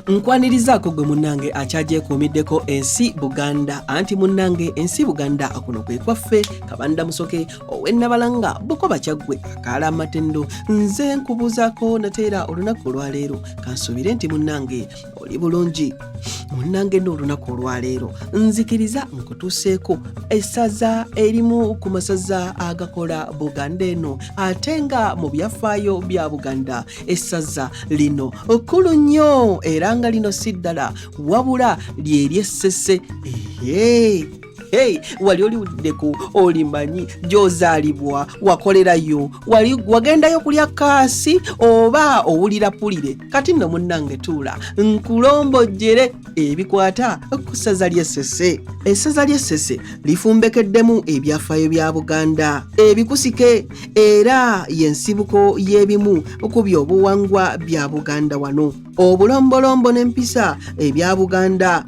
nkwanirizaako gwe munnange akyagyekuumiddeko ensi buganda anti munnange ensi buganda kuno kwe kwaffe kabanda musoke owennabalanga bukoba kyaggwe akaala amatendo nze nkubuuzaako nateera olunaku olwaleero kansuubire nti munnange oli bulungi munnange n'olunaku olwaleero nzikiriza nkutuuseeko essaza erimu ku masaza agakola buganda eno ate nga mu byafaayo bya buganda essaza lino kkulu nnyo era nga lino si ddala wabula lyeryessese ehe hey, wali oliwuliddeko olimanyi gyozaalibwa wakolerayo wali wagendayo kulya kaasi oba owulira pulire kati nno munnange tuula nkulombojjere ebikwata ku ssaza ly'essese essaza ly'essese lifumbekeddemu ebyafaayo bya buganda ebikusike era y'ensibuko y'ebimu ku byobuwangwa bya buganda wano obulombolombo n'empisa ebya buganda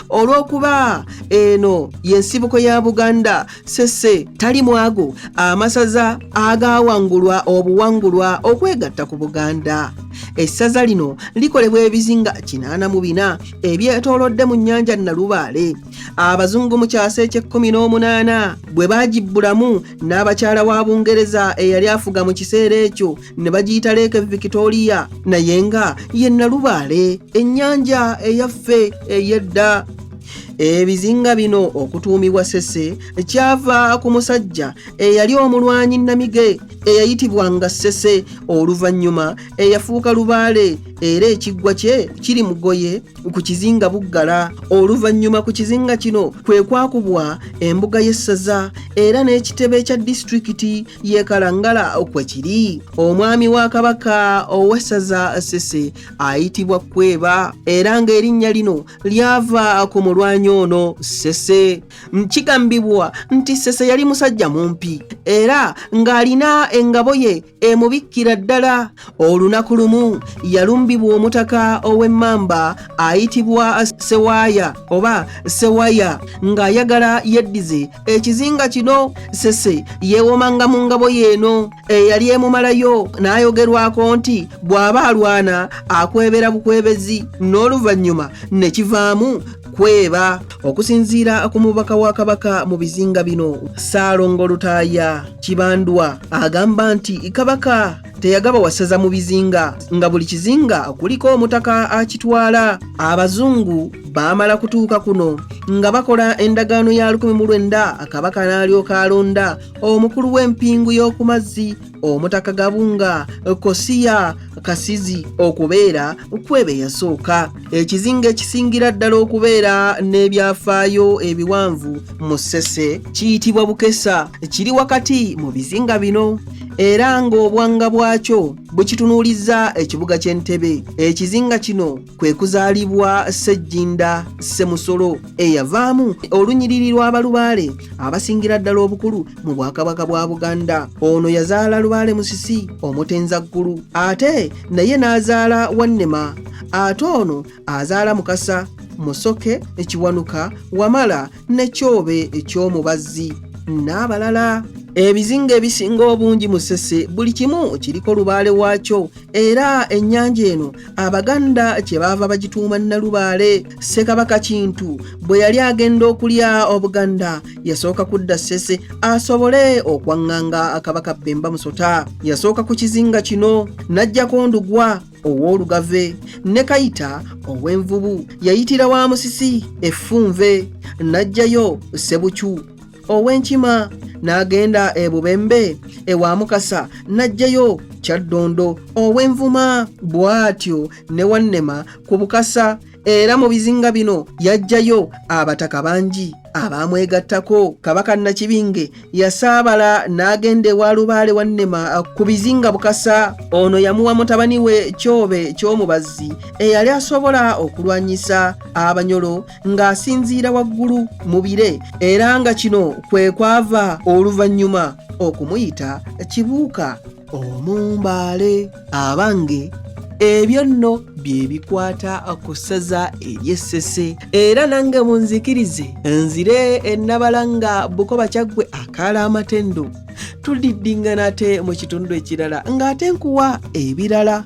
olw'okuba eno y'ensibuko ya buganda sese tali mwago amasaza agawangulwa obuwangulwa okwegatta ku buganda essaza lino likolebwa ebizinga kinaana mu bina ebyetoolodde mu nnyanja nalubaale abazungu mu kyasa eky'ekkumi n'omunaana bwe baagibbulamu n'abakyala wa bungereza eyali afuga mu kiseera ekyo ne bagiyita leeke victoria naye nga ye nalubaale ennyanja eyaffe ey'edda ebizinga bino okutuumibwa sese kyava ku musajja eyali omulwanyi namige eyayitibwanga sese oluvannyuma eyafuuka lubaale era ekiggwa kye kiri mugoye ku kizinga buggala oluvannyuma ku kizinga kino kwe kwakubwa embuga y'essaza era n'ekitebe kya disitulikiti y'e kalangala kwe kiri omwami wa kabaka ow'essaza sese ayitibwa kweba era ng'erinnya lino lyava ku mulwanyi ono sese kigambibwa nti sese yali musajja mumpi era ng'alina engabo ye emubikkira ddala olunaku lumu yalumbibwa omutaka ow'emmamba ayitibwa sewaaya oba sewaya ng'ayagala yeddize ekizinga kino sese yeewomanga mu ngabo yeeno eyali emumalayo n'ayogerwako nti bw'aba alwana akwebera bukwebezi n'oluvannyuma ne kivaamu kweba okusinziira ku mubaka wa kabaka mu bizinga bino saalongo lutaaya kibandwa agamba nti kabaka teyagaba wasaza mu bizinga nga buli kizinga kuliko omutaka akitwala abazungu baamala kutuuka kuno nga bakola endagaano ya 19 kabaka n'alyoka alonda omukulu w'empingu y'oku mazzi omutaka gabunga kosiya kasizi okubeera kwebe yasooka ekizinga ekisingira ddala okubeera n'ebyafaayo ebiwanvu mu ssese kiyitibwa bukesa kiri wakati mu bizinga bino era ng'obwanga bwakyo bukitunuulizza ekibuga ky'entebe ekizinga kino kwe kuzaalibwa ssejjinda ssemusolo eyavaamu olunyiriri lw'abalubaale abasingira ddala obukulu mu bwakabaka bwa buganda ono yazaala lubaale musisi omutenza ggulu ate naye n'azaala wannema ate ono azaala mukasa musoke ekiwanuka wamala ne kyobe eky'omubazzi n'abalala ebizinga ebisinga obungi musese buli kimu kiriko lubaale waakyo era ennyanja eno abaganda kye baava bagituuma nnalubaale ssekabaka kintu bwe yali agenda okulya obuganda yasooka kudda ssese asobole okwaŋŋanga akabaka bbemba musota yasooka ku kizinga kino n'ajjako ndugwa ow'olugave ne kayita ow'envubu yayitira wa musisi effunve n'ajjayo sebukyu ow'enkima n'agenda e bubembe ewa mukasa n'aggyeyo kyaddondo ow'envuma bw'atyo ne wannema ku bukasa era mu bizinga bino yaggyayo abataka bangi abaamwegattako kabaka nakibinge yasaabala n'agenda ewa lubaale wa nnema ku bizinga bukasa ono yamuwa mutabani we kyobe ky'omubazzi eyali asobola okulwanyisa abanyolo ng'asinziira waggulu mu bire era nga kino kwe kwava oluvannyuma okumuyita kibuuka omumbaale abange ebyo nno bye bikwata ku ssaza ery'essese era nange munzikirize nzire ennabala nga bukoba kyaggwe akaala amatendo tudiddingana ate mu kitundu ekirala ng'ate nkuwa ebirala